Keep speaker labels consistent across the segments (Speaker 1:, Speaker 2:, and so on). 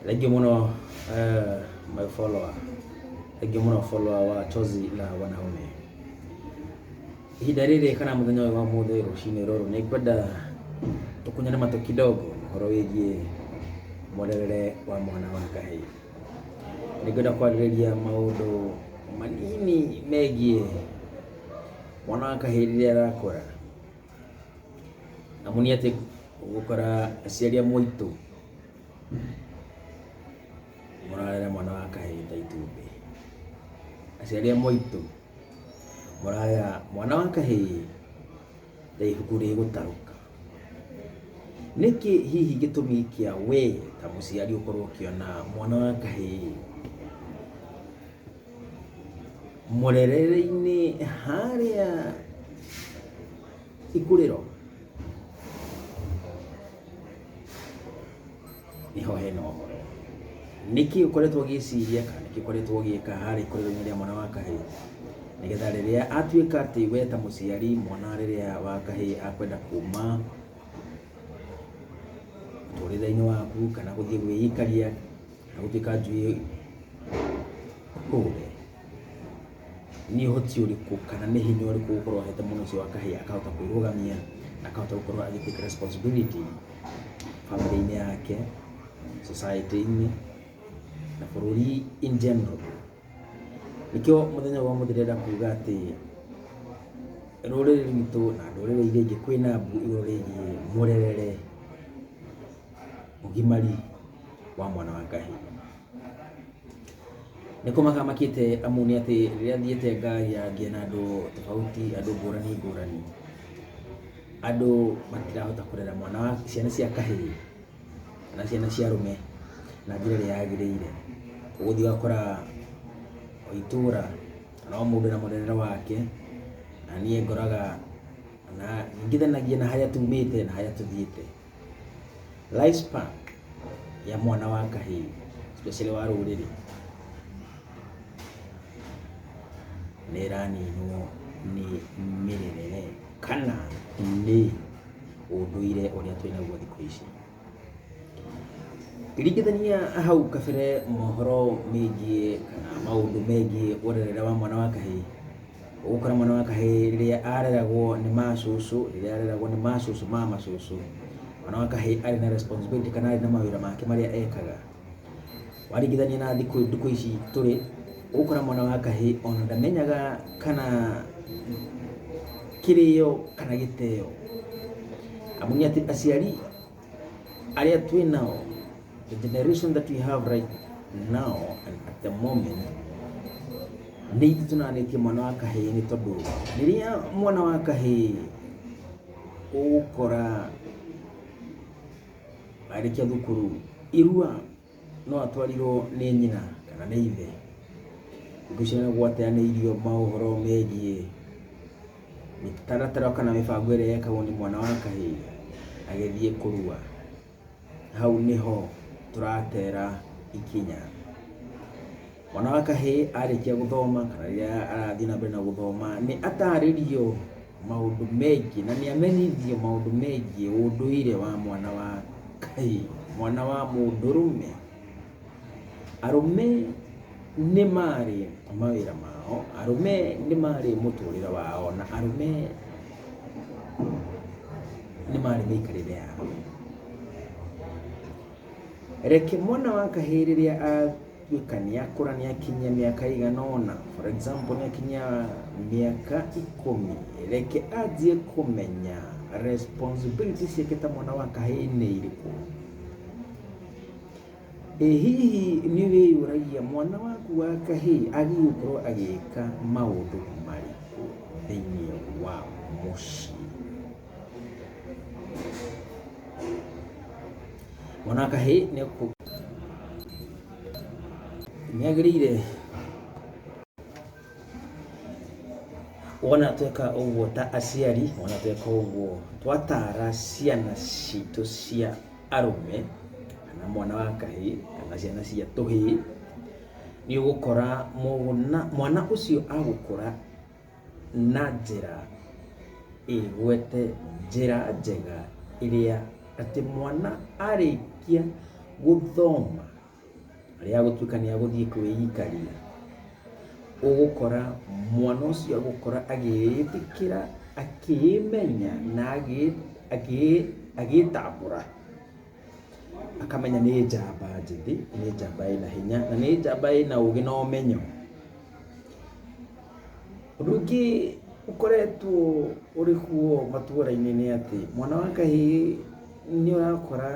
Speaker 1: Thank you muno uh, my follower. Thank you muno follower wa Chozi la Wanaume. Ihinda rĩrĩ kana mũthenya ũyũ wa mũthĩ rũcinĩ rũrũ nĩ ngwenda tũkunyane matũ kidogo ũhoro wĩgiĩ mwerere wa mwana wa kahĩĩ. Nĩ ngwenda kwarĩrĩria maũndũ manini megiĩ mwana wa kahĩĩ rĩrĩa arakũra Amu nĩ atĩ ũgũkora aciari amwe aitũ mararera mwana wa kahĩĩ ta itumbĩ. Aciari amwe aitũ mararera mwana wa kahĩĩ ta ibuku rĩgũtarũka. Nĩkĩ hihi gĩtũmi kĩa we ta mũciari ũkorwo ũkĩona mwana wa kahĩĩ Mũrerere-inĩ harĩa ikurĩro nĩho hena ũhoro. Nĩkĩ ũkoretwo ũgĩciria kana nĩkĩ ũkoretwo ũgĩka harĩa ikurĩro-inĩ rĩa mwana wa kahĩĩ? Nĩgetha rĩrĩa atuĩka atĩ we ta mũciari mwana rĩrĩa wa kahĩĩ akwenda kuma mũtũrĩre-inĩ waku kana gũthiĩ gwĩikaria ó jẹ́ ká ju kó rẹ̀ ni hoti uri ko kana ne hinyo uri ko ko heta mono so aka hi aka ta ko roga mia aka ta ko ali take responsibility family ni yake society ni na bũrũri in general nĩkĩo mũthenya wa mũthĩ ndĩrenda kuga atĩ rũrĩrĩ rwitũ na ndũrĩrĩ iria ingĩ kwĩna mbu igũrũ rĩgiĩ mũrerere ũgimari wa mwana wa kahĩĩ. Nĩ kũmaka makĩte amu nĩ atĩ rĩrĩa thiĩte ngĩaria na andũ tofauti, andũ ngũrani ngũrani, andũ matirahota kũrera mwana wa, ciana cia kahĩĩ kana ciana cia arũme na njĩra ĩrĩa yagĩrĩire. Ũgũthiĩ ũgakora o itũra kana o mũndũ ena mũrerere wake, na niĩ ngoraga ningithanagia na harĩa tumĩte na harĩa tũthiĩte. Rice pack ya mwana wa kahĩĩ especially wa rũrĩrĩ nĩ ĩraninwo nĩ mĩrerere kana nĩ ũndũire ũrĩa twĩ naguo thikũ ici. Ngĩringithania hau kabere mohoro megiĩ kana maũndũ megiĩ ũrerere wa mwana wa kahĩĩ, Ũgũkora mwana wa kahĩĩ rĩrĩa areragwo nĩ macũcũ, rĩrĩa areragwo nĩ macũcũ ma macũcũ, mwana wa kahĩĩ arĩ na responsibility kana arĩ na mawĩra make marĩa ekaga. Waringithania na thikũ ndukũ ici tũrĩ, ũgũkora mwana wa kahĩĩ ona ndamenyaga kana kĩrĩo kana gĩteo, amu nĩ atĩ aciari... arĩa twĩ nao the generation that we have right now and at the moment nĩ ithu tũnanĩtie mwana wa kahĩĩ nĩ tondũ rĩrĩa mwana wa kahĩĩ ũgũkora arĩkia thukuru irua No atwarirũo nĩ nyina kana nĩ ithe. Gũciarũo gwateanĩirio maũhoro megiĩ mĩtaratara kana mĩbango ĩrĩa yekagwo nĩ mwana wa kahĩĩ agĩthiĩ kũrua. Hau nĩho tũratera ikinya. Mwana wa kahĩĩ arĩkia gũthoma kana rĩrĩa arathiĩ na mbere na gũthoma nĩ atarĩrio maũndũ megiĩ na nĩ amenyithio maũndũ megiĩ ũndũire wa mwana wa kahĩĩ, mwana wa mũndũrũme. Arũme nĩ marĩ mawĩra mao, arũme nĩ marĩ mũtũrĩre wao na arũme nĩ marĩ mĩikarĩre yao. Reke mwana wa kahĩĩ rĩrĩa a... Gũtuĩka nĩakũra nĩakinyia mĩaka ĩigana ũna, for example nĩakinyia mĩaka ikũmi, reke anjie kũmenya responsibility ciake ta mwana wa kahĩĩ nĩ irĩkũ. Ĩ hihi nĩwĩyũragia mwana waku wa kahĩĩ agĩrĩirwo gũkorwo agĩka maũndũ marĩkũ thĩiniĩ wa mũciĩ? Mwana wa kahĩĩ nĩ ekũ- nĩagĩrĩire wona tweka ũguo ta aciari wona tweka ũguo twatara ciana citũ cia arũme kana mwana wa kahĩĩ kana ciana cia tũhĩĩ nĩ ũgũkora mũgũna- mwana ũcio agũkũra na njĩra ĩgwete njĩra njega ĩrĩa atĩ mwana arĩkia gũthoma rĩrĩa agũtuĩka nĩ agũthiĩ kwĩikaria, ũgũkora mwana ũcio agũkora agĩĩtĩkĩra, akĩĩmenya na agĩĩtambũra. Akamenya nĩ njamba njĩthĩ, nĩ njamba ĩna hinya, na nĩ njamba ĩna ũgĩ na ũmenyo. Ũndũ ũngĩ ũkoretwo ũrĩ kuo matũra-inĩ nĩ atĩ, mwana wa kahĩĩ nĩ ũrakora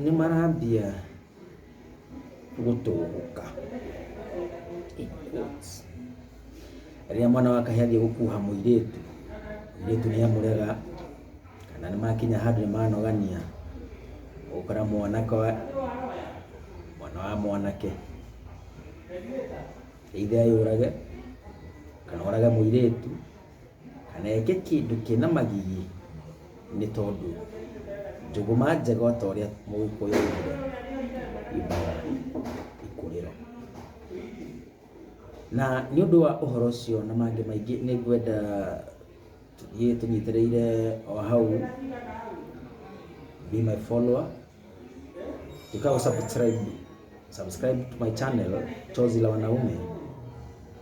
Speaker 1: nĩ marambia. gũtũgũka in quotes. Rĩrĩa mwana wa kahĩĩ athiĩ gũkuha mũirĩtu, mũirĩtu nĩ amũrega kana nĩ makinya handũ nĩ manogania, ũgakora mwanake wa mwana wa mwanake either eyũrage kana orage mũirĩtu. Kana eke kĩndũ kĩna magigi nĩ tondũ njũgũma njega o ta ũrĩa mũgĩkũyũ augire yumbaga ikũrĩro. Na nĩ ũndũ wa ũhoro ũcio na mangĩ maingĩ nĩ ngwenda tũthiĩ tũnyitĩrĩire o hau be my follower. Ikawa subscribe subscribe to my channel Chozi la Wanaume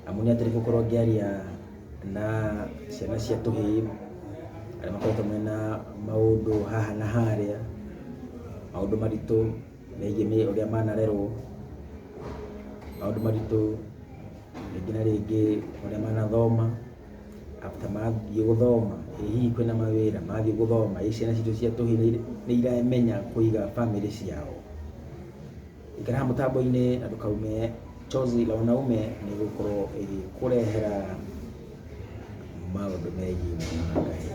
Speaker 1: amu nĩ atĩrĩ gũkorwo ngĩaria na ciana cia tũhĩĩ arĩa makoretwo mena maũndũ haha na harĩa maũndũ maritũ megiĩ nĩ ũrĩa manarerwo maũndũ maritũ rĩngĩ na rĩngĩ ũrĩa manathoma after mathiĩ gũthoma, ĩ hihi kwĩna mawĩra, mathiĩ gũthoma ĩ ciana citũ cia tũhĩĩ nĩ iramenya kũiga bamĩrĩ ciao? Ikara haha mũtambo-inĩ na ndũkaume coz ĩrĩa wanaume nĩ ĩgũkorwo ĩgĩkũrehera maũndũ megiĩ mwana wa kahĩĩ.